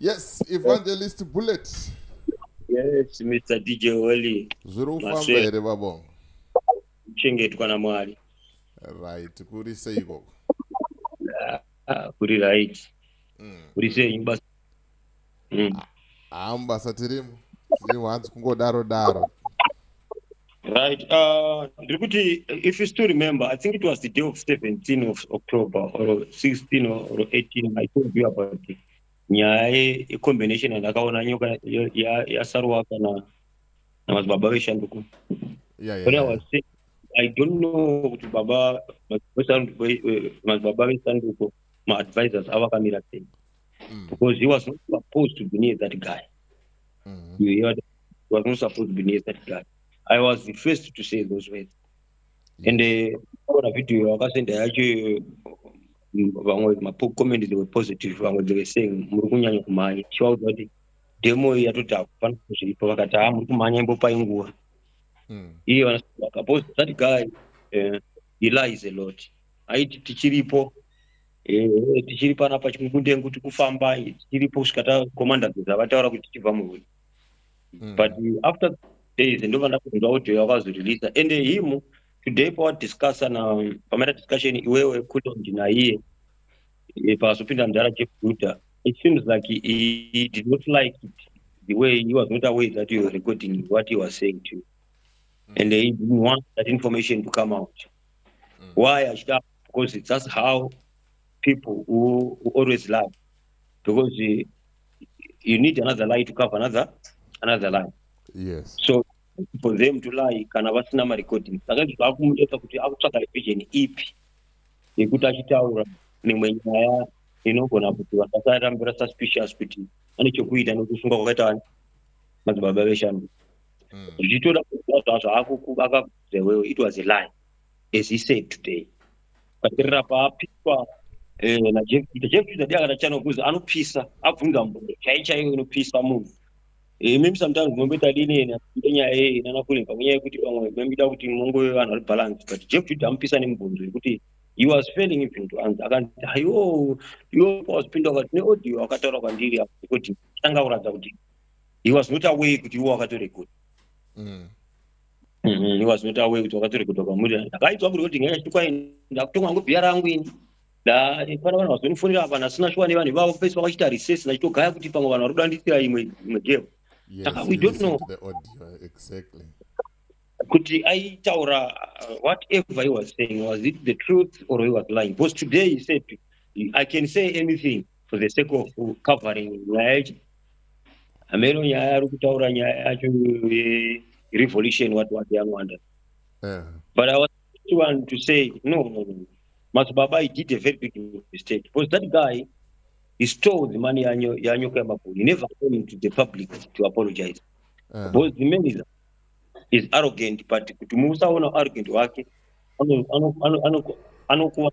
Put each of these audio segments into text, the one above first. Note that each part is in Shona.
Yes, Evangelist Bullet. Yes, Mr. DJ Wally. Zviri kufamba here babo? Kuchengetwa naMwari. Right, kuri sei ikoko? Ah, ah, kuri right. Mm. Kuri sei basa mm. haa mubasa tirimo tirimo hanzi kungodaro daro right uh, ndiri kuti if you still remember i think it was the day of 17 of october or 16 or 18 i told you about it nyaya yecombination yandakaona nyoka yasaruwa kana namadzibaba veshanduko i don't know kuti baba madzibaba vesanduko maadvisors avakamira sei mm. because he was not supposed to be near that guy mm -hmm. you hear that? he was not supposed to be near that guy i was the first to say those words yes. and eh, ona uh, video wakasenda yacho vamwe macommenti they were positive vamwe they were saying muri kunyanya kumhanya chivaudza kuti demo iyi yatoti hakufana zviripo vakati ha muri kumhanya imbopai nguva hmm. iye vanasaka bcause that guy uh, he lies a lot aiti tichiripo Ehe, tichiri panapa chimukundengu tikufamba tichiripo kusvika takomanda zeza vataura kuti tichibva muhuni Mm. but after days ndobva ndakunzwa audio yakazoreleasa and him today pawadiscussa na pamaita discussion iwewe kulondi naiye eh, pazopinda mudhara chekuguta it seems like he, he did not like it the way he was not aware that you were recording what he was saying to you and he didn't want that information to come out why achida because it's just how people who, who always lie because uh, you need another lie to cover another another lie yes so for them to lie kana vasina marecording saka izvi zvakumuita kuti akutsvaga vision ipi yekuti achitaura mimwe nyaya inogona kuti vanhu vasarambira suspicious kuti ane chokuita nekusunga kwakaita vani madzibaba veshandu hmm. zvichitoda kuaa zvaakuakakuzvewewo it was a lie as he said today paterera paapiswa eh, najeff peter jeff peter ndiye akatachana kuzi anopisa abvunza mbuyo chai chaiyo inopisa munhu eh, mimi sometimes munomboita dineni ngenyaya yei nanakulinga ngenyaya yekuti pamwe mamida kuti mongove vanhu vari balance but jeff peter amupisa nemubvunzo yekuti he was failing even to answer akanzi ayo iwo wazipinda wakati neaudio wakataura kwandiri kuti tanga kuratidza kuti he was not away kuti iwo wakatorekoda mm. Mhm, was not aware kuti wakatorekodha kwamuri ndakaitwa kuri kuti ngenyaya chitukwai ndakutonga ngo bhiya rangu ini ndafana vanhu vazonifonera apa nasina shuwa nevanhu ivavo pese vakachita recess nachitogaya kuti pamwe vanhu vari kudandisira imwe imwe geo saka we don't know exactly kuti aitaura uh, whatever he was saying was it the truth or he was lying because today he said i can say anything for the sake of covering nyaya yacho hameno nyaya ari kutaura nyaya yacho yerevolution what what yangwanda eh. but i was one to say no, no, no. Masubaba, he did a very big mistake because that guy he stole the money yanyo yanyo Kemapuni. He never came to the public to apologize. Uh. Because the man is, is arrogant, but kutumusa ona arrogant wake anokuwa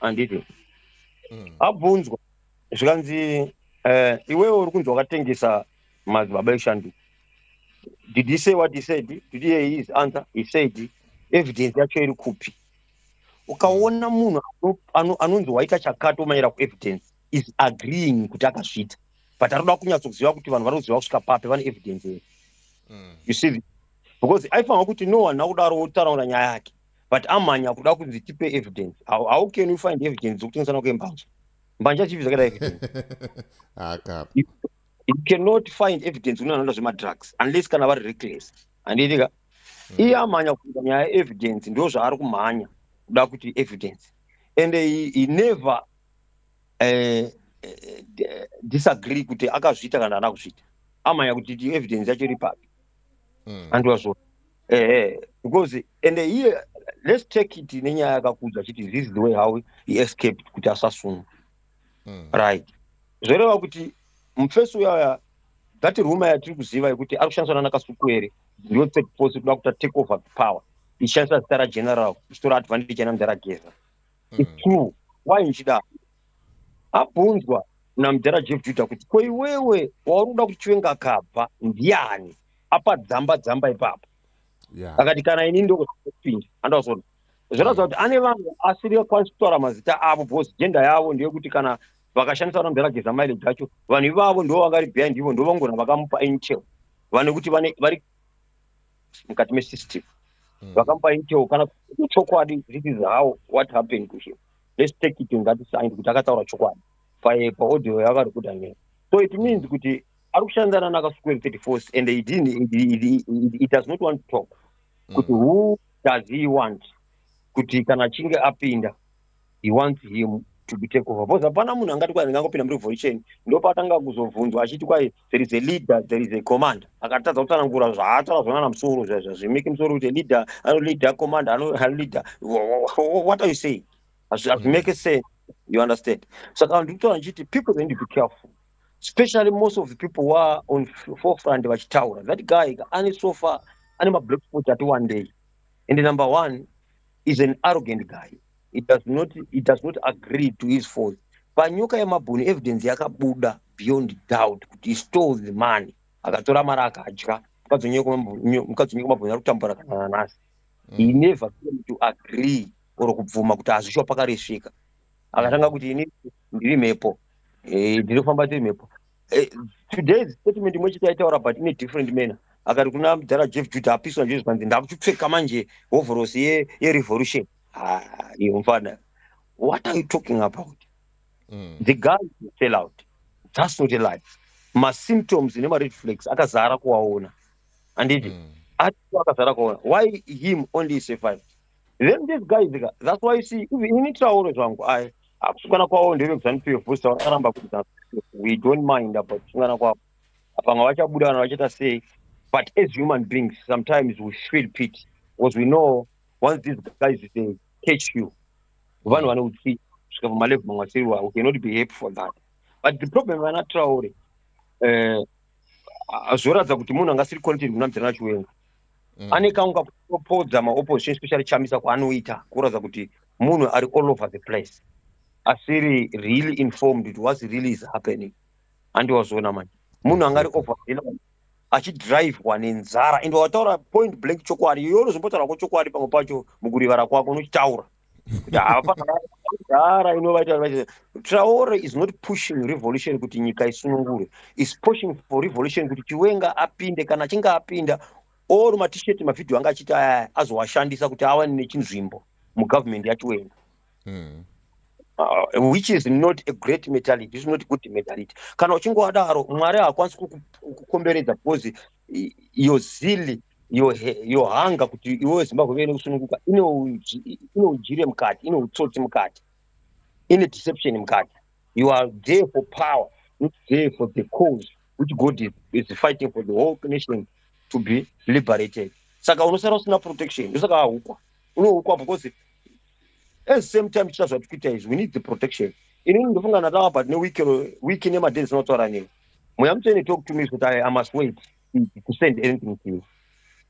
handiti mm. abvunzwa zvikanzi uh, iwewe uri kunzi wakatengesa madzibaba eshanduko did he say what he said did he hear his answer he said evidence yacho iri kupi ukaona munhu anonzi waita chakato maera kuevidence is agreeing kuti akazviita but anoda kunyatsoziva kuti vanhu vanoziva kusvika papi vane evidence here mm. you see because aifanira kuti no one akudaro wotaraura nyaya yake but amhanya kuda kunzi tipe evidence how, how can you find evidence dzekutengesana kwembanje mbanje achivi zvakaita evidence you cannot find evidence kune vanoita zvemadrugs unless kana vari reckless handiitika mm. iye amhanya kuita nyaya evidence ndo zvaari kumhanya kuda kuti evidence and he, he never uh, uh, disagree kuti akazviita kana ana kuzviita amhanya kuti evidence yacho iri papi mm. andiwazvona ehe because ende iye let's take it nenyaya yakakudza chiti this is the way how he escaped kuti asasungwa mm. right zvoreva kuti mufesi uyaya that ruma yatiri kuziva yekuti ari kushandiswa nanakasukuere ndiyo third force kuda kuta take over the power ichishandisa zita rageneral ichitora advantage ana mudhara geza mm. its true why ndichidaro abvunzwa namudhara jeff juda kuti ko iwewe wauri kuda kuti chiwenga akabva ndiani apa dzamba dzamba ipapo akati kana ini ndokupinda andazoona zvinoratidza kuti ane vanhu asiri akwanisi kutaura mazita avo bcause jenda yavo ndeyekuti kana vakashandisa vana mudhara geza maile dzacho vanhu ivavo ndo vangari behind ivo ndo vangona vakamupa intel vane kuti vane vari mukati mesystem hmm. vakamupa intel kana chokwadi this is how what happened to him let's take it ngatisaindi kuti akataura chokwadi paaudio yavarekoda nyaya so it means kuti ari kushandana nakasukuru 34 and he didn't, he, he, he, he does not want to talk mm. kuti who does he want kuti kana achinge apinda he wants him to be take over because hapana munhu angati kwai ndingangopinda murevolution ndopatanga kuzobvunzwa achiti kwai there is a leader there is a commander akatadza kutsanangura zvaataura zvonana musoro zvazvimiki musoro kuti leader ano leader commander ano leader what are you saying hazvimeke mm. sense you understand saka ndikutaura ndichiti people then be careful especially most of the people wa on forefront vachitaura that guy ane sofa ane mablack spot ati one day and number one is an arrogant guy it does not, it does not agree to his fault panyoka yemabhoni evidence yakabuda beyond doubt kuti he stole the money akatora mari akadya mukadzi wenyoko mabhoni ari kutambura kana nanasi mm. he never came to agree or kubvuma kuti hazvisho pakaresvika akatanga kuti ini ndiri mhepo eh, ndiri kufamba tiri mhepo eh, today statement imwe chete yaitaura but ine different manner akati kuna mudhara jeff juda hapiswa nje zvikanzi ndakuchipfeka manje hovhorosi yerevolution iyo mfana what are you talking about mm. the guy fell out that's not a life masymptoms nemared flags akazara kuwaona anditi mm. ati akazara kuwaona why him only survived then these guys ka that's why see even ini traore zvangu ayi akusungana kwavo ndevekuzanu pf vosa vakaramba kuti we don't mind about kusungana kwavo apanga vachabuda vana vachaita sei but as human beings sometimes we feel pit because we know once these guys they catch you vanhu vane utsi kusvika pamalevu mamwe asiriwa we cannot be happy for that but the problem vana traore eh, zvoratidza kuti munhu angasiri content kunamdzana chiwenga mm. ane kangu kakupropodza maopposition especially chamisa kwaanoita kuratidza kuti munhu ari all over the place asiri really informed it was really is happening andiwazoona manje munhu anga ari over achidrivwa nenzara ende wataura point blank chokwadi iyoyo unozombotaura ko chokwadi pamwe pacho mukurivara kwako unochitaura hapakudhara inovaita traore is not pushing revolution kuti nyika isunungure is pushing for revolution kuti chiwenga apinde kana achinge apinda or matisheti mavhidhiyo anga achiti aya azowashandisa kuti awane nechinzvimbo mugovernment yachiwenga hmm. uh, which is not a great mentality is not good mentality kana uchingowadaro mwari haakwanisi kukukomberedza because your zilly yohanga kuti iwe zimbabwe vene kusununguka ine ujire mukati ine utsotsi mukati ine deception mukati you are there for power not there for the cause which god is, is fighting for the whole nation to be liberated saka unosara usina protection ndosaka ahukwa unohukwa because at the same time tichita zvati kuita izvi we need the protection inini ndofunga ndatava but ne week ine maday dzinotaura nei mweya mutsvene talk to me kuti i must wait speak to send anything to you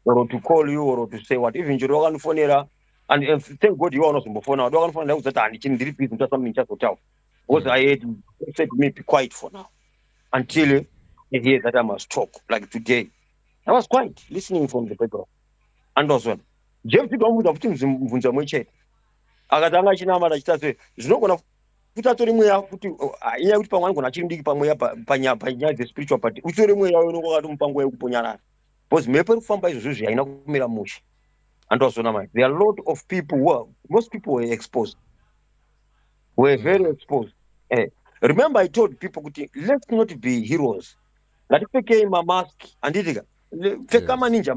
or to call you or to say what even chero wakanofonera and uh, thank god iwe unozombofona wadi wakanofonera ndakuudza kuti handi chini ndiri busy ndoita something chazotaura because i had said to me be quiet for now until i hear that i must talk like today i was quiet listening from the background and was one jeff tidomubvunza futi mubvunza mwe chete akatanga achinamata achita se zvinogona kuti atore mweya kuti oh, ah, inyaya yekuti pamwe anogona achiri mudiki pamweya panyaya dzespiritual but utore mweya unonga wakatomupa nguva yekuponyarara because mhepo iri kufamba izvozvo zvi haina kumira mushe andiwazona mai there are lot of people who are, most people were exposed were very exposed eh. remember i told people kuti let's not be heroes ngatipfekei mamask handiitika pfeka maninja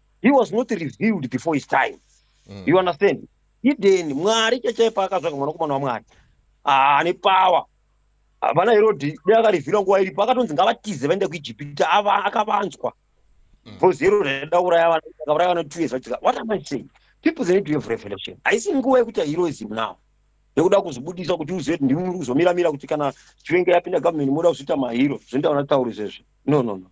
he was not revealed before his time mm. you understand eden mwari chachai paakatsvaga mwanakomana wamwari haane ah, power havana herodi dai akarevhira nguva iripo akatonzi ngavatize vaende kuijipita akavanzwa mm. because herodi aida kuraya vana akauraya vana two years vachika what am i saying people they need to have revelation haisi nguva yekuti heroism now nekuda kuzvibudisa kuti uzive kuti ndimi muri kuzomiramira kuti kana chivenga yapinda government moda kuzoita mahiro zvinoita vanatauri zvezvo no no no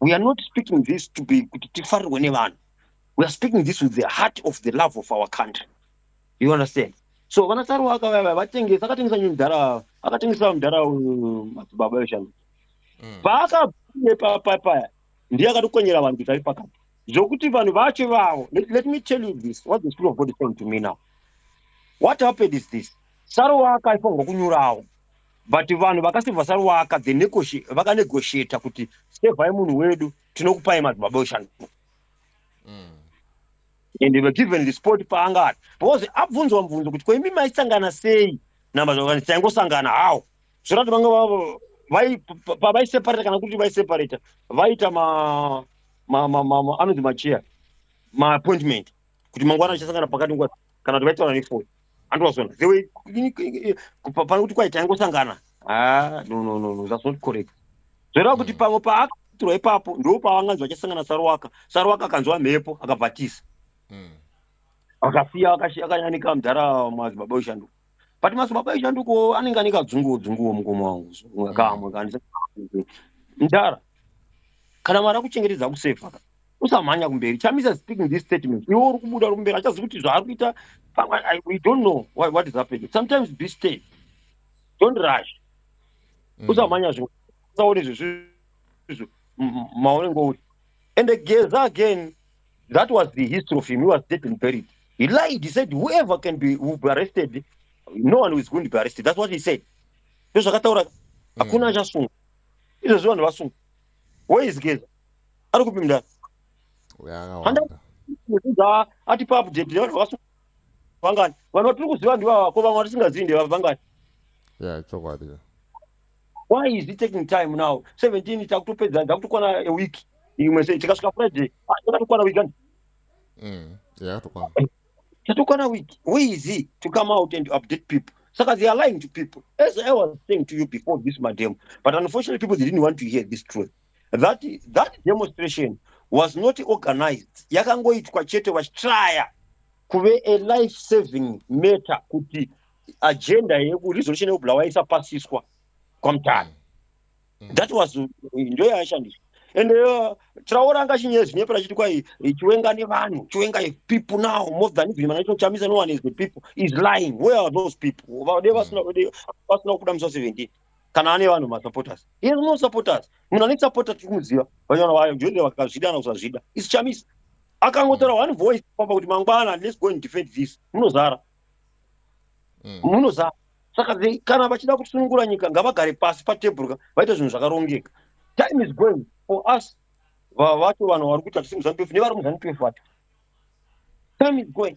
we are not speaking this to be kuti tifarirwe nevanhu we are speaking this with the heart of the love of our country you understand so vana saruwa akavava vatengesa akatengesa nyu mdhara akatengesa mdhara madzibaba uh, veshanu mm. paakabuye papapaya ndiye akatokonyera vanhu kuti ari pakati zvokuti vanhu vacho ivavo let me tell you this what the spirit of god is saying to me now what happened is this saruwa akaifanirwa kunyurawo but vanhu vakasevha saruwaka the negoshi vakanegosheta kuti sevhai munhu wedu tinokupai madzibaba oshanduka mm. and were given the sport paanga ari because abvunzwa mubvunzo kuti koimi maisangana sei namazvakani taingosangana hawo zvorati vange pavaiseparata kana kuti vaiseparata vaita anonzi macheya maappointment kuti mangwana achasangana pakati nguva kana kuti vaitaura nefoni and was on the way pane kuti kwaita ingosangana ah no no no no that's not correct zvoreva kuti mm. pamwe paakatirwa ipapo ndo paavanganzi vachasangana sarowaka sarowaka akanzwa mhepo akabvatisa mm. akasiya akanyanika mudhara madzibaba ushandu but madzibaba ushanduko anenge anenge adzunguwo dzunguwo mukoma wangu kamwe mm. kandisa mudhara kana mwari akuchengetedza kusefa usamhanya kumberi chamisa speaking this statement iwe uri kubuda uri kumberi achazi kuti zvaari kuita we don't know what, what is happening sometimes be stay don't rush mm. usamhanya zvinhu usaone zvezvizvo maone ngouri and geza again that was the history of him he was dead and buried he lied he said whoever can be, will be arrested no one is going to be arrested that's what he said ndozvakataura mm. hakuna achasungwa izvezvi vanhu vasungwa where is geza ari kupi mndani atipa update vangani vanhu vatiri kuziva ndivava ko vamwe vatisingazivi ndevava vangani ya chokwadi why is he taking time now 17 takutopedza ndakutokwana a week imwe se tikasvika friday takatokwana week and mm yakatokwana tatokwana week where is he to come out and update people saka they are lying to people as i was saying to you before this madam but unfortunately people they didn't want to hear this truth that, that demonstration was not organized yakangoitwa chete vachitraya kuve a life saving matter kuti agenda yeresolution yekubulawa isapasiswa kwamutano mm. that was ndo yaishandiswa and uh, traora anga chinyaya zvinyepa rachiti kwai chiwenga nevanhu chiwenga people now more than even manaito chamisa no one is the people is lying where are those people vade vasina mm. kuda musa 17 kana ane vanhu masupporters he has no supporters munhu ane supporter tiri kumuziva vanyana vayo joinde vakazvida kana kusazvida is chamisa akangotaura one voice papa kuti mangwana let's go and defend this munozara mm. munozara mm saka kana vachida kusunungura nyika ngavagare pasi patebhurka vaita zvinhu zvakarongeka time is going for us vacho vanhu vari kuita zvisi muzanupf nevari muzanupf vacho time is going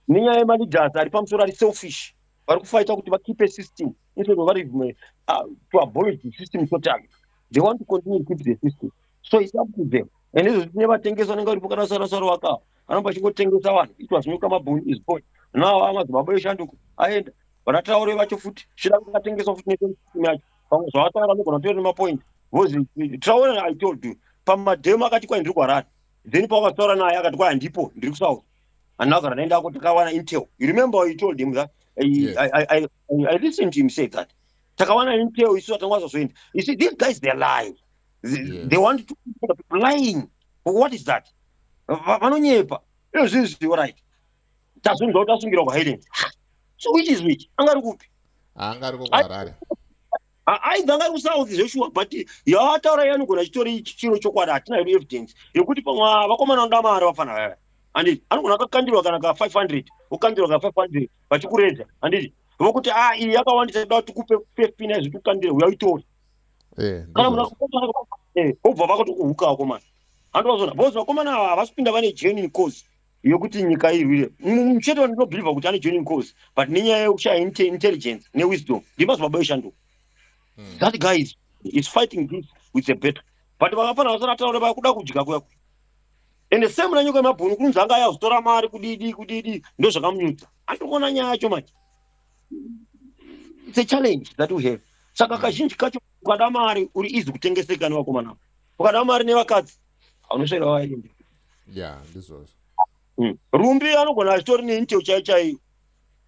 nenyaya yemaleaders ari pamusoro ari selfish vari kufaita kuti vakipe system instead of vari uh, to abolish the system totally they want to continue to keep the system so it's up to them and izvo zvine vatengesi vanenge varipo kana sarasara wakawa anobva achingotengesa vanhu it was nyuka mabhoni is boy now amadzimaba eshanduko aenda vanataure vacho futi chida kungatengeswa futi neesim yacho pamwe zvavataura anogona kutora nemapoint vozi traure i told you pamademo akati kwai ndiri kwarari then pawakataura naye akati kwai handipo ndiri kusauth anogara naye ndako takawana intel you remember you told him that I, yes. I, I, I, I listened to him say that takawana intel isu atanga zvazoenda you see these guys they're lying they, yes. they want to people lying what is that vanonyepa io zvinhu zvio right tazvinzwa kuti asungirwa kuhighland so which is which anga ari kupi anga ari ko kuharare aibva ngari kusauthi zveshuwa but yaataura iye anogona chitori chiro chokwadi hatina hedu evidence yekuti pamwe ah, vakomana vanoda mari vafana vaya handiti anogona akakandirwa kana ka 500 okandirwa ka 500 vachikureza handiti vokuti a ah, iyi yakawandisa toda kuti kupe fpn izvi tikukandire uya uitori eh, kana munhu eh, obva vakatokuhuka vakomana handivazona bcause vakomana ava havasi kupinda vane genuine cause yokuti nyika irwire mucheto ndinobhilivha kuti ane joining cause but nenyaya yekushaya intelligence newisdom ndimazibaba yoshanduka hmm. that guy is, is fighting this with a better but vakafanira vasati ataura vakuda kudya kuya ende same nanyika yemabhunu kunzi anga ayazotora mari kudidi kudidi ndo zvakamunyudza andikuona nyaya yacho manje it's a challenge that we have saka hmm. kazhinji kacho ukada mari uri easy kutengeseka nevakomana ukada mari nevakadzi aunosvera waende ya ndizvozvo hmm. rumbi anogona achitori neintel chai chaiyo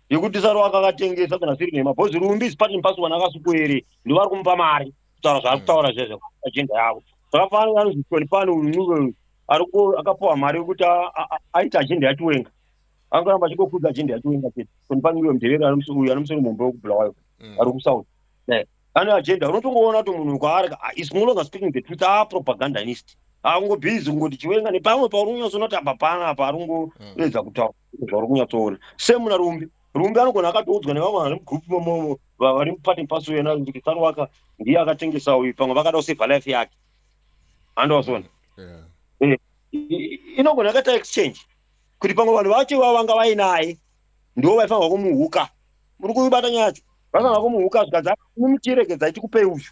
yekuti saro akakatengesa kana siri nhema bhozi rumbi zipati mupasi wana akasukuere ndovari kumupa mari kutaura zvaari hmm. kutaura zvezve ajenda yavo zvakafanana anonzi tony pano uyu ariko akapuwa mari yekuti aita ajenda yachiwenga angaramba achingokudza ajenda yachiwenga chete tony pano uyo mudherero uyu anomusoro mumba wekubulawayo hmm. ari kusouth ane agenda unotongoona kuti munhu kwaari ah, is no longer speaking the truth aa ah, propagandanist aungobhizi kungoti chiwenga nepamwe pauri kunyatsoona kuti apa pana apa ari kungoedza kutaura zvauri kunyatsoona semuna rumbi rumbi anogona akatoudzwa nevamwe vari mugroup momomo vari mupati paso yena kuti sarwaka ndiye akatengesa uyu pamwe vakada kuseva life yake andowazona eh, inogona akaita exchange kuti pamwe vanhu vacho ivavo vanga vainaye ndo vaifanirwa kumuhuka muri kuibata nyaya yacho vaifanirwa kumuhuka zvikanzi mumutiregedzai tikupei uyu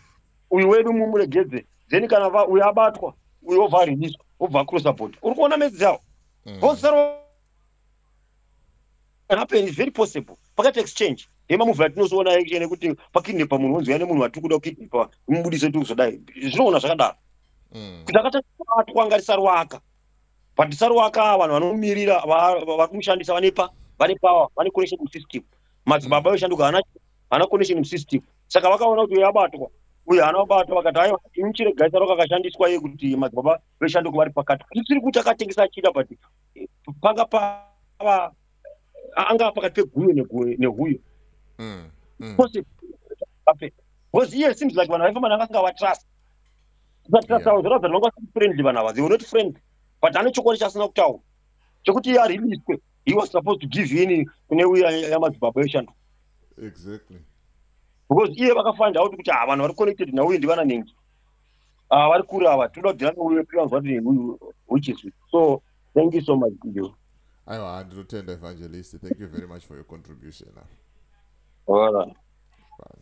uyu wedu mumuregedze then kana va uyu abatwa uyu obva ariniswa obva acrossa body uri kuona message yawo mm. vosaro happen is very possible pakati exchange yemamuvi atinozoona action ekuti pakidnepa munhu wonzi yane munhu watiri kuda kukidnepa mubudise tiri kuzodai zvinoona zvakadaro mm. kuti akataatwa ngarisarwaka Patisarwaka vanhu vanomirira vari kumushandisa vane pa vane power vane connection musystem madzibaba mm. yoshanduka ana ana connection musystem saka vakaona kuti yabatwa uye ana vabatwa vakati aiwa imuchiregai saro kakashandiswa ye kuti madzibaba veshanduka vari pakati tisiri kuti akatengesa achida but eh, panga pava anga pakati peguyo nehuyo mm, mm. because iye seems like vanhu vaifamba nanga asingawatrust friendly vana ava they were not friendly but ane chokwadi chaasina kutaura chekuti iye ariliswe he was supposed to give in kune uya yamadzibaba yoshando exactly because iye vakafind out kuti havanhu vari connected nauye ndivana nengi ah, vari kure ava tinoda kudira neuye tikanzwa kuti which is so thank you so much you aiwa ndinotenda evangelist thank you very much for your contribution all right. Bye.